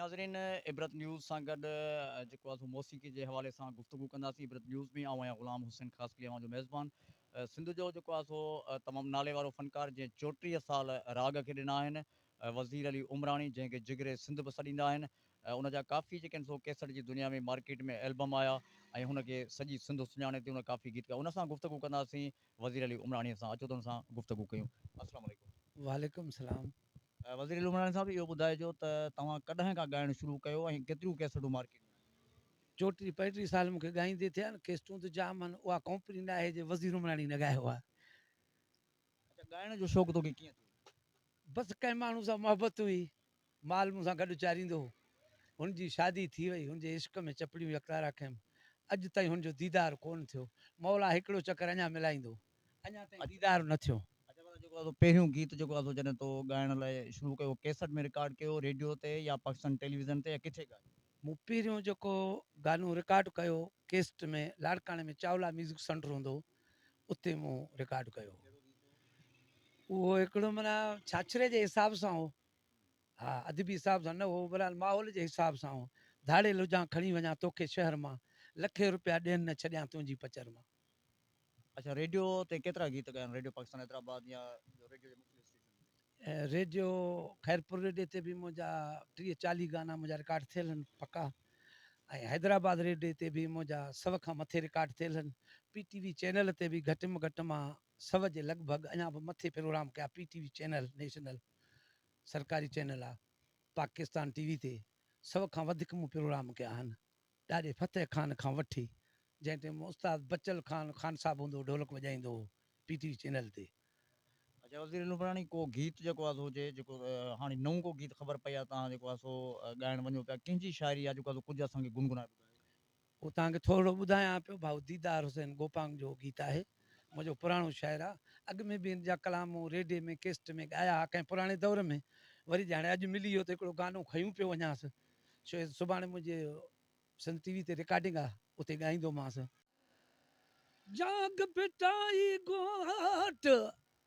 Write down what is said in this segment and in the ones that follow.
ناظرين عبرت نيوز سان گڏ جيڪو آسو موسيقي جي حوالي سان گفتگو ڪنداسين عبرت نيوز ۾ آئون آهيان غلام حسين خاصخيلي اوهان جو ميزبان سنڌ جو جيڪو آسو تمام نالي وارو فنڪار جنهن چوٽيهه سال راڳ کي ڏنا آهن وزير علي عمراڻي جنهن کي جگري سنڌ به سڏيندا آهن ۽ ان جا ڪافي جيڪي آهن سو ڪيسٽ جي دنيا ۾ مارڪيٽ ۾ البم آيا ۽ هن کي سڄي سنڌ سڃاڻي تي هن ڪافي گيت ڳايا ان سان گفتگو ڪنداسين وزير علي عمراڻي سان اچو ته هن سان گفتگو ڪيون السلام عليڪم. وعليڪم السلام. وزير علي عمراڻي صاحب اهو ٻڌائجو ته توهان ڪڏهن کان ڳائڻ شروع ڪيو ۽ ڪيتريون ڪيسٽون مارڪيٽ ۾ آيون. چوٽيهه پنجٽيهه سال مون کي ڳائيندي ٿيا آهن ڪيسٽون ته جام آهن اها ڪمپني نه آهي جي وزير عمراڻي نه ڳايو آهي. اچا ڳائڻ جو شوق توکي ڪيئن ٿيو. بس ڪنهن ماڻهو سان محبت هئي مال مون سان گڏ اچاريندو هو. هن جي شادي ٿي وئي. هن جي عشق ۾ چپڙيون يڪتارا ڪيم. اڄ تائين هن جو ديدار ڪونه ٿيو. مولا هڪڙو چڪر اڃا ملائيندو. اڃا تائين ديدار نه ٿيو. اچ ڀلا جيڪو اسو پهريون گيت جيڪو اسو جڏهن تو ڳائڻ لاء شروع ڪيو هو ڪيسٽ ۾ رڪارڊ ڪيو ريڊيو تي يا پاڪستان ٽيليويزن تي يا ڪٿي ڳايو؟ مون پهريون جيڪو گانو رڪارڊ ڪيو ڪيسٽ ۾ لاڙڪاڻي ۾ چاولا ميوزڪ سنٽر هوندو هو اتي مون رڪارڊ ڪيو هو. اهو هڪڙو معنيٰ ڇاڇري جي حساب سان هو. ها ادبي حساب سان نه هو بلحال ماحول جي حساب سان هو ڌاڙيل هجان کڻي وڃان توکي شهر مان لکين روپيا ڏين نه ڇڏيان تنهنجي پچر مان. اڇا ريڊيو تي ڪيترا گيت ڳايا آهن ريڊيو پاڪستان حيدرآباد يا ٻيو ريڊيو جي مختلف اسٽيشنن تي. ريڊيو خيرپور ريڊيو تي به منهنجا ٽيهه چاليهه گانا منهنجا رڪارڊ ٿيل آهن پڪا ۽ حيدرآباد ريڊيو تي به منهنجا سو کان مٿي رڪارڊ ٿيل آهن پي ٽي وي چينل تي به گهٽ م گهٽ مان سؤ جي لڳ ڀڳ اڃا به مٿي پروگرام ڪيا P T V channel national سرڪاري چينل آ پاڪستان ٽي وي تي سؤ کان وڌيڪ مون پروگرام ڪيا آهن ڏاڏي فتح خان کان وٺي جنهن ٽيم استاد بچل خان خان صاحب هوندو ڍولڪ وڄائيندو هو پي ٽي وي چينل تي. اچا وزير نوبراڻي ڪو گيت جيڪو آ سو هجي جيڪو هاڻي نئون ڪو گيت خبر پئي آ تان جيڪو آ سو ڳائڻ وڃو پيا ڪنهن جي شاعري آ جيڪو آ سو ڪجهه اسان کي گنگنائي ٻڌايو. هو توهان کي ٿورڙو ٻڌايان پيو ڀائو ديدار حسين گوپانگ جو هو گيت آهي منهنجو پراڻو شاعر آ اڳ ۾ به هن جا ڪلام مون ريڊي ۾ ڪيسٽ ۾ ڳايا ها ڪنهن پراڻي دور ۾ وري جي هاڻي اڄ ملي ويو ته هڪڙو گانو کنيون پيو وڃانس شو سڀاڻي منهنجي سنڌ ٽي وي تي رڪارڊنگ آ اتي ڳائيندومانس. جاڳ ڀٽائي گهاٽ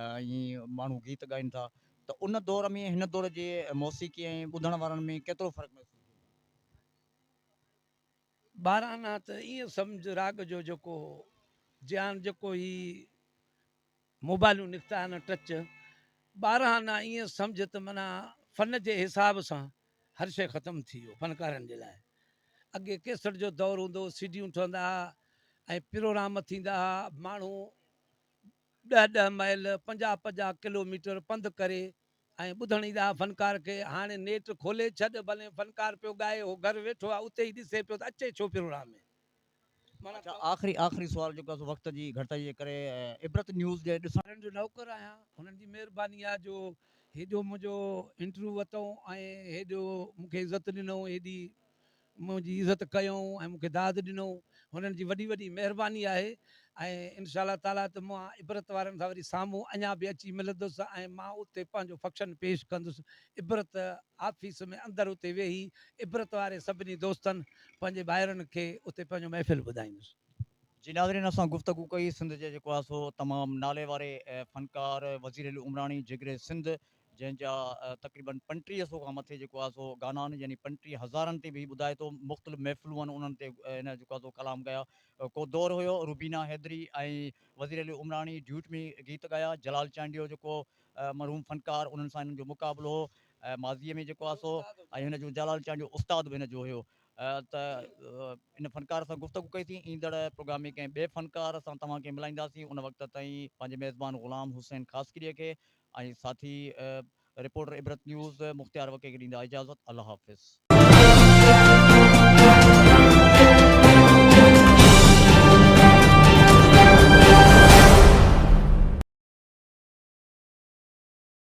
ائين ماڻهو گيت ڳائين ٿا ته ان دور ۾ هن دور جي موسيقي ۽ ٻڌڻ وارن ۾ ڪيترو فرق محسوس ٿيندو هوندو؟ ٻاراڻا ته ائين سمجهه راڳ جو جيڪو هو جي هاڻ جيڪو هي موبائلون نڪتا آهن ٽچ ٻاراڻا ائين سمجهه ته معنيٰ فن جي حساب سان هر شيء ختم ٿي ويو فنڪارن جي لاء اڳي ڪيسٽ جو دور هوندو هو سيڊيون ٺهندا هئا ۽ پروگرام ٿيندا هئا ماڻهو ڏهه ڏهه مائل، پنجاهه پنجاهه ڪلو ميٽر پنڌ ڪري ۽ ٻڌڻ ئي ڏاه فنڪار کي هاڻي نيٽ کولي ڇڏ ڀلين فنڪار پيو ڳائي هو گهر ويٺو آ اتي ئي ڏسي پيو ته اچي ڇو پيو رڙا ۾ معنيٰ اڇا آخري آخري سوال جيڪو سو وقت جي گهٽتائي جي ڪري عبرت نيوز جي ڏسڻ. وارن جو نوڪر آهيان هنن جي مهرباني آ جو هيڏو منهنجو انٽرويو وتئون ۽ هيڏو مونکي عزت ڏنئون هيڏي منهنجي عزت ڪيو ۽ مون کي داد ڏنو هنن جي وڏي وڏي مهرباني آهي ۽ انشاء الله تعاليٰ ته مان عبرت وارن سان وري سامهون اڃا به اچي ملندس ۽ مان اتي پنهنجو فڪشن پيش ڪندس عبرت آفيس ۾ اندر اتي ويهي عبرت واري سڀني دوستن پنهنجي ڀائرن کي اتي پنهنجو محفل ٻڌائيندس. جي ناظرين اسان گفتگو ڪئي سنڌ جي جيڪو آهي سو تمام ناليواري فنڪار وزير العمراڻي جگر سنڌ جنهن جا تقريبن پنٽيهه سو کان مٿي جيڪو آهي سو گانا آهن يعني پنٽيهه هزارن تي به هي ٻڌائي ٿو مختلف محفلون آهن انهن تي هن جيڪو آهي سو ڪلام ڳايا ڪو دور هيو روبينا حيدري ۽ وزير علي عمراڻي ڊيوٽ ۾ گيت ڳايا جلال چانڊيو جيڪو مرحوم فنڪار انهن سان هنن جو مقابلو هو ماضي ۾ جيڪو آهي سو ۽ هن جو جلال چانڊيو استاد به هن جو هيو ته ان فنڪار سان گفتگو ڪئي ٿي ايندڙ پروگرام ۾ ڪنهن ٻئي فنڪار سان توهان کي ملائينداسين ان وقت تائين پنهنجي ميزبان غلام حسين خاصخيلي کي ۽ ساٿي رپورٽر عبرت نيوز مختيار وڪي کي ڏيندا اجازت الله حافظ.